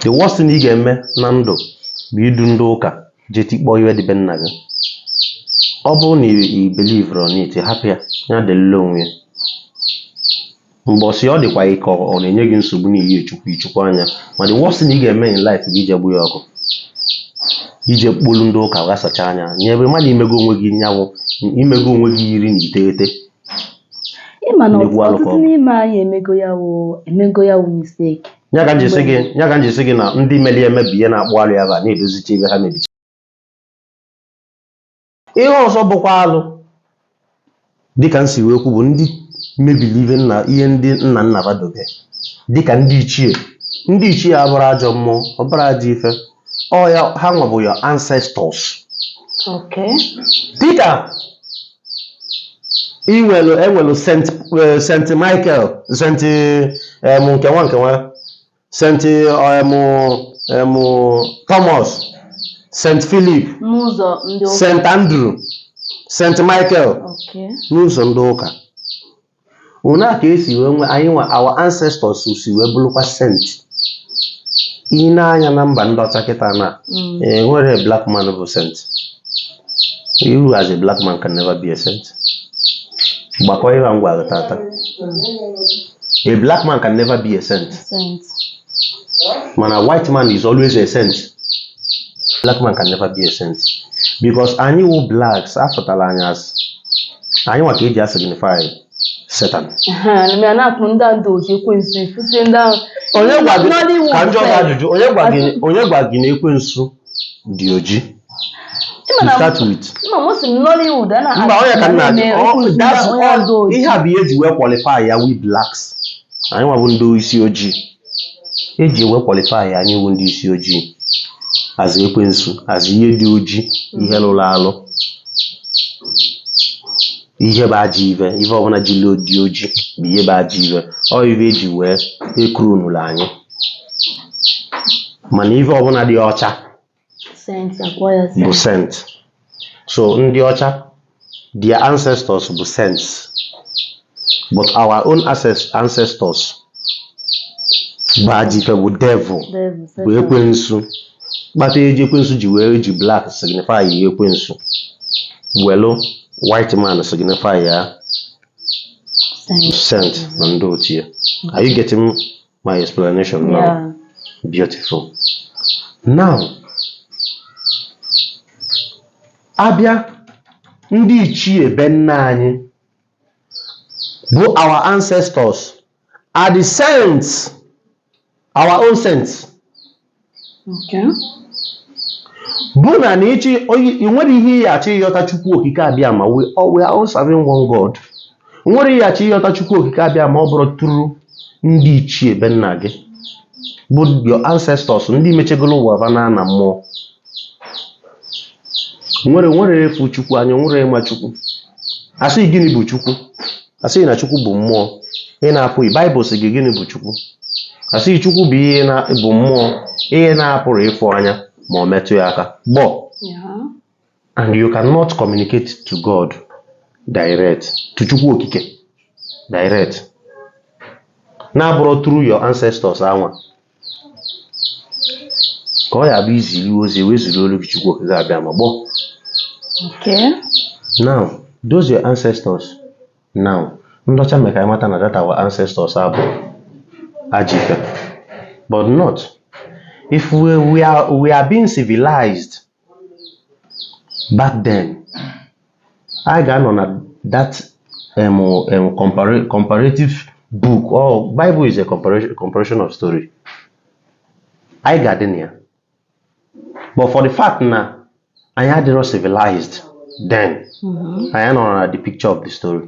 the worst thing ị ga-eme na ndụ bụ idu ndị ụka jee tikpọọ ive dị be nna gị ọ bụrụ na i believe on it hapụ ya ya dịlịlị onwe ya mbọsị ọ dịkwa gị ka ọ ọ na-enye gị nsogbu n'ihi echukwu ichukwu anya ma the worst thing ị ga-eme in life bụ ije gba ya ọkụ ije kpọlụ ndị ụka ghasacha anya nye ebe mmadụ imego onwe gị nyanwụ imego onwe gị iri na iteghete ịma na Nnekwu alụkọ. ọtụtụ n'ime anyị emego ya wụ emego ya wụ mistake ya ka m ji sị gị na ndị meli emebi ihe na-akpụ alụ ebe a na-edozicha ive ha mebicha ihe ọzọ bụkwa alụ dịka m si wee kwu bụ ndị mebiri ihe nna ihe ndị nna nna ba dobe dịka ndị ichie ndị ichie abụrọ ajọ mmụọ ọ bụrọ ajọ ife ọ ya ha nwa bụ your ancestors Okay. dịka enwelu Saint eh, Saint Michael Saint em nke nwa nke nwa Saint em em Thomas Saint Philip N'ụzọ ndị ụka. Saint Andrew Saint Michael Okay. n'ụzọ ndị ụka una ka esi wee nwee anyị nwa our ancestors si wee bụrụkwa saint ị na-anụ ya na mba ndị ọcha kịta na Mm. e nwere black man bụ saint you as a black man can never be a saint gbakọọ ihe a m gwara gị tata a black man can never be a saint Saint. mana white man is always a saint black man can never be a saint because anyị wụ blacks afụtara anyị as anyị nwa ka eji asignify satan mere na-akpọ ndị a ndị oji ekwensu ifusi ndị ahụ onye gwa gị Nollywood ka m jụọ gị sef. ajụjụ onye gwa gị onye gwa gị na ekwensu dị oji Ị ma to na- start with ị ma mụ si m Nollywood a na mba ọ ya ka nna na-eme ọ- onye that's onye all- ọzọ oji. ihe a bụ ihe eji wee qualify ya we blacks anyị nwa bụ ndị isi ojii eji wee qualify ya anyị wụ ndị isi ojii as ekwensu as ihe dị oji ihe lụrụ alụ ihe bụ ajọ ive ive ọbụla jili dị oji bụ ihe bụ ajọ ive ọ ive eji wee ekuru nụrụ anyị mana ive ọbụla dị ọcha saint akpọ ya bụ saint saint so ndị ọcha their ancestors bụ saints but our own ancest- ancestors bụ ajọ ife bụ devil devil bụ ekwensu kpata eji ekwensu ji wee ji black signify ekwensu welu white man signify ya saint na ndị otu ya are you getting my explanation now Yeah. beautiful now a bịa ndị ichie be nna anyị bụ our ancestors are the saints our own saints bụ na na ịchị ị nwerọ ihe ị achọ ịghọta Chukwu Okike Abịama we all we are all serving one God nwerọ ihe achọ ịghọta Chukwu Okike Abịama ọ bụrọ through ndị ichie be nna gị bụ your ancestors ndị mechegolo ụwa va naa ana mmụọ nwerọ nwerọ onye fụ Chukwu anya nwerọ onye ma Chukwu a sị gịnị bụ Chukwu A sị gị na Chukwu bụ mmụọ, ihe na-apụghị. Baịbụl sị gị gịnị bụ Chukwu? A sị gị Chukwu bụ ihe na bụ mmụọ, ihe na-apụrọ ịfụ anya ma ọ metụ ya aka. Gbọ. Yeah. And you cannot communicate to God direct, to Chukwu Okike direct. Na-abụrọ through your ancestors anwa. ka ọ ya-abụ i zili ozi e wee zili olu gị Chukwu Okike Abịama gbọ Okay. now those your ancestors now ndị ọcha mee ka anyị mata na that our ancestors a bụ ajọ ife but not if we, we, are, we are being civilized back then anyị ga-anọ na that um, um, compara comparative book or Bible is a comparison, comparison of story anyị ga-adị na ya but for the fact na anyị adịrọ civilized then mm-hmm. anyị anọrọ na the picture of the story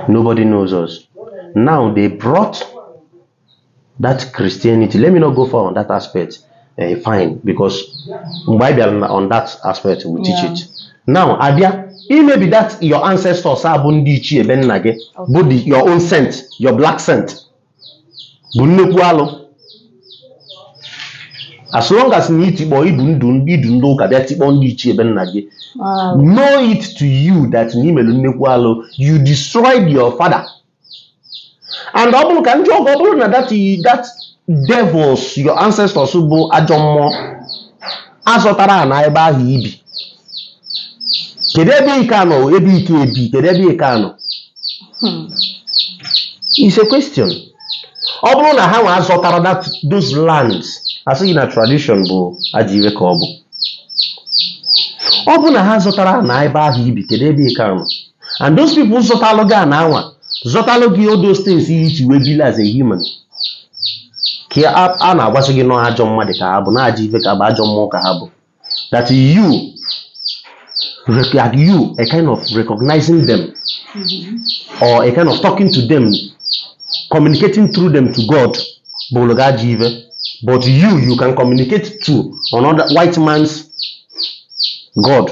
nobody knows us now they brought that Christianity let me not go far on that aspect uh, fine because mgbe anyị bịara on that aspect we teach yeah. it now a bịa imebi that your ancestors a bụ ndị ichie be nna gị bụ your own saint your black saint bụ nnekwu alụ as long as na i tikpọ i du ndị i du ndị ụka bịa tikpọ ndị ichie be nna gị know it to you that na i melu nnekwu alụ you destroyed your father and ọ bụrọ ka ndị ọgọ ọ bụrọ na that that devils your ancestors bụ ajọ mmụọ zọtara ana ebe ahụ i bi kedu ebe ị ka-anọ ebe ị ka-ebi kedu ebe ị ka-anọ hmm. is a question ọ bụrọ na ha nwa zọtara that those lands a sị gị na tradition bụ ajọ ife ka ọ bụ ọ bụrọ na ha zọtara ana ebe ahụ i bi kedu ebe ị ka-anọ and those people zọtalụ gị ana anwa zọtalụ gị all those things i ji wee bili as a human ka ya- a a na-agwasị gị na ọ ajọ mmadụ ka ha bụ na ajọ ife ka ha bụ ajọ mmụọ ka ha bụ that you rec- that you a kind of recognizing them or a kind of talking to them communicating through them to God bụụlụ gị ajọ ife but you you can communicate to another white man's God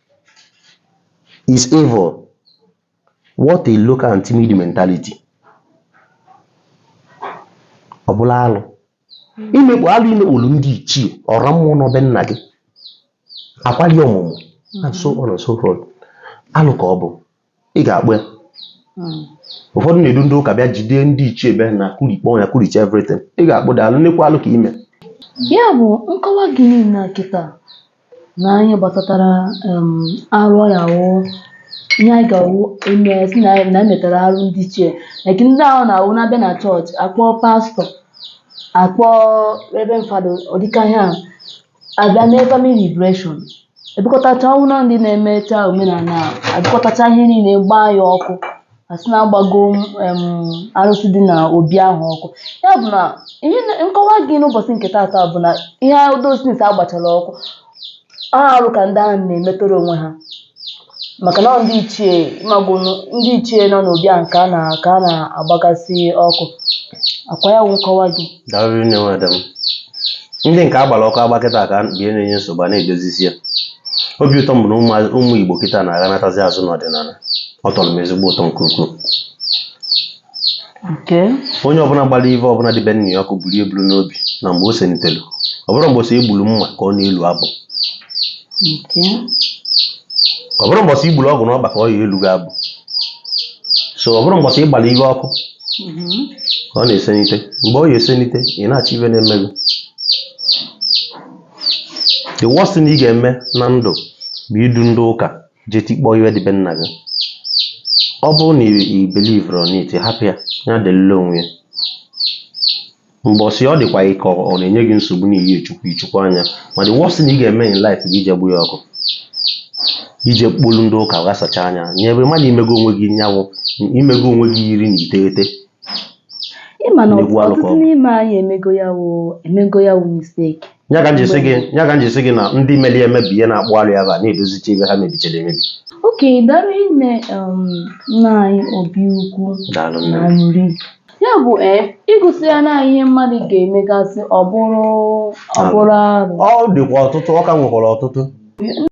is evil. What a local and timid mentality. Ọ bụrụ alụ. Imekpu alụ imekpuru ndị ichie ọra mmụọ na be nna gị. Akwali ọmụmụ and so on and so forth. Alụ ka ọ bụ. ị ga-akpụ ya hmm. ụfọdụ na-edu ndị ụka bịa jide ndị ichie be nna kurikpọọ ya kuricha everything ị ga-akpụ that alụ nnekwu alụ ka i me ya bụ nkọwa gị na kịta na anyị gbasatara arụ ya wụ ihe anyị ga-awụ eme si na na emetara arụ ndị ichie like ndị ahụ na-awụ na-abịa na chọọchị akpọọ pastọ akpọọ reverend fada ọ dị ka ihe a abịa mee family liberation ebukọtacha ọ wụ na ndị na-emecha omenala a ebukọtacha ihe niile gbaa ya ọkụ asị na agbago em, arụsị dị na obi ahụ ọkụ ya bụ na ihe na- nkọwa gị n'ụbọchị nke taata bụ na ihe those things agbachara ọkụ ọ arụ ka ndị ahụ na-emetọrọ onwe ha maka na ọ ndị ichie ị mago nụ, ndị ichie nọ n'obi a nke a na ka a na-agbagasị ọkụ ọ kwa ya wụ nkọwa gị daalụ nne nwada m ndị nke agbara ọkụ agba kịta ka bie na-enye nsogbu a na-edozisi ya obi ụtọ m bụ na ụmụ- ụmụ igbo kịta na-aghanatazi azụ n'ọdịnala ọ tọrọ m ezigbo ụtọ nke ukwuu onye ọbụla gbara ive ọbụla dị be nna ya ọkụ buru eburu n'obi na mgbe o senitelu ọ bụrọ mbọsị e gburu mma ka ọ na-elu abụ ọ bụrọ mbọsị i gburu ogwu n'ọkpa ka ọ ya-elu gị abụ so ọ bụrọ mbọsị ị gbara ive ọkụ ka ọ na-esenite mgbe ọ ya-esenite ị na-achọ ive na-eme gị the worst thing ị ga-eme na ndụ bụ idu ndị ụka jee tikpọọ ive dị be nna gị ọ bụrụ na i believerọ in it hapụ ya ya dịlịlị onwe ya mbọsị ọ dịkwa gị ka ọ na-enye gị nsogbu n'ihi chukwu ichukwu anya ma the worst thing ị ga-eme in life bụ ije gba ya ọkụ ije kpọlụ ndị ụka ghasacha anya nyebe mmadụ i mego onwe gị nyanwụ i mego onwe gị iri na iteghete ị ma na Nnekwu alụ ka ọ. ọtụtụ n'ime anyị emego ya wụ emego ya wụ misteki ya ka m ji sị gị ya ka m ji sị gị na ndị meli emebi ihe na-akpụ alụ ya ba na-edozicha ive ha mebichara emebi okay daalụ nne um, nna anyị obi ukwu daalụ nne na m. nri ya bụ ee ịgụsị ya na ihe mmadụ ga-emegasị ọ bụrụ ọ bụrụ arụ ọ dịkwa ọtụtụ ọ ka nwekwara ọtụtụ